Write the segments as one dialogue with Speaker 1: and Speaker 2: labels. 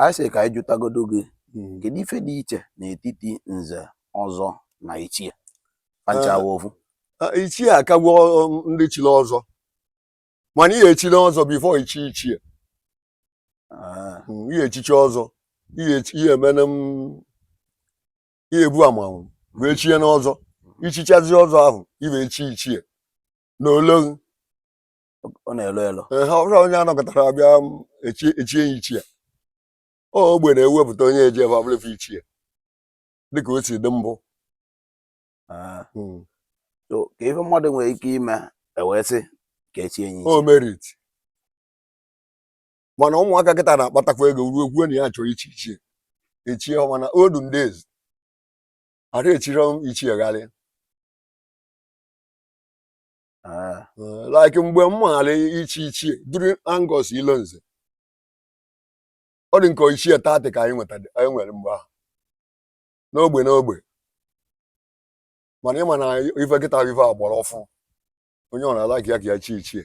Speaker 1: anyị sị ka anyị jụtagodo gị hmm. kedu ife dị iche n'etiti nze ọzọ na ichie panchawa eh, ofu eh, ichie akagwo
Speaker 2: um, ndị chiri ọzọ mana ị ya-echiri ọzọ before ichi ichie ah. hmm, ị ya-echichi ọzọ ị ya-emenụ ị ya-ebu amanwụ wee chie n'ọzọ i chichazie ọzọ ahụ i wee chie ichie na ologhi
Speaker 1: ọ na-elo elo ee ha ọ bụrọ onye a
Speaker 2: nọkatara a bịa echie ya ichie ọ ogbe na-ewepụta onye eji ebe abụla ife ichie dịka o si dị mbụ Ah,
Speaker 1: Mm. so ka ife mmadụ nwere ike ime e wee sị ka e chie ya o ichie
Speaker 2: merit mana ụmụaka kịta na-akpatakwa ego ruo kwuo na ya chọrọ ichi ichie echie ha mana olden days ara echirọ ichie gharịa ah. eh, like mgbe m maara ichi ichie during Angus Ilonze ọ dị ka ichie thirty ka anyị nwere mgbe ahụ n'ogbe n'ogbe mana ịma na ife kịta ife a gbara ọfụ onye ọ na-like ka ya ka ya chi
Speaker 1: ichie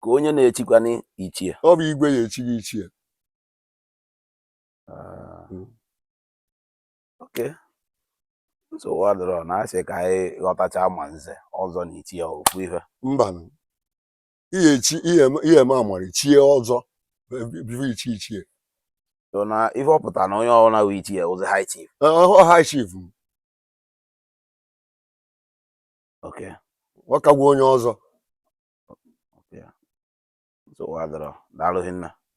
Speaker 1: ka onye na-echikwanụ ichie ọ bụ igwe ya-echi
Speaker 2: gị ichie ah. hmm.
Speaker 1: okay nsogbu adịrọ na asị ka anyị ghọtacha ma nze ọzọ na ichie ofu ife
Speaker 2: mba ị ya-echi ị ya-eme amara chie ọzọ before ichie ichie so na
Speaker 1: ife ọ pụta na onye ọbụla bụ ichie bụzi high chief high chief okay ọ kagwa onye ọzọ
Speaker 2: nsogbu
Speaker 1: adịrọ
Speaker 2: daalụ hinne